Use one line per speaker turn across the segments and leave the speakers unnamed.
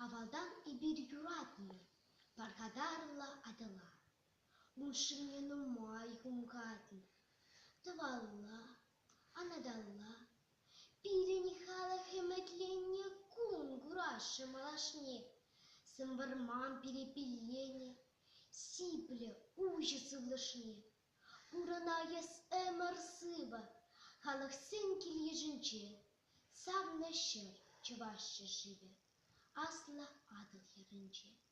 Авалтан эпир юратнӑ пархатарлӑ атӑла. Мӑшӑрне нумай хумхатнӑ, тӑвалла Анаталла, пирӗн халӑх ӗмӗтленнӗ кун курасшӑн малашне. Сӑнвӑрман перепелленӗ, сиплӗ уҫӑ сывлӑшне. Пурӑнайӑс ӗмӗр-сывӑ халӑхсен кил-йышӗнче. Савнӑ ҫӗр Чӑваш ҫӗршывӗ, Аслӑ Атӑл хӗрринче.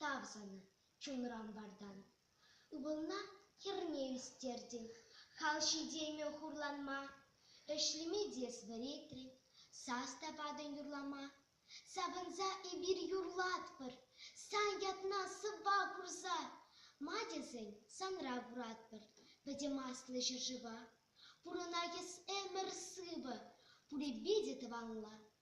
Тав-сана, чунран вартан. Ывӑлна хӗрне ӳстертӗн, хал ҫитеймӗ хурланма. Ӗҫлеме тес вӗретрӗн, сас та патӑн юрлама. Савӑнса эпир юрлатпӑр, сан ятна сӑвва курса. Ма тесен санра куратпӑр пӗтӗм аслӑ ҫӗршыва. Пурӑнать эс ӗмӗр сывӑ, пурӗпе те тӑванла.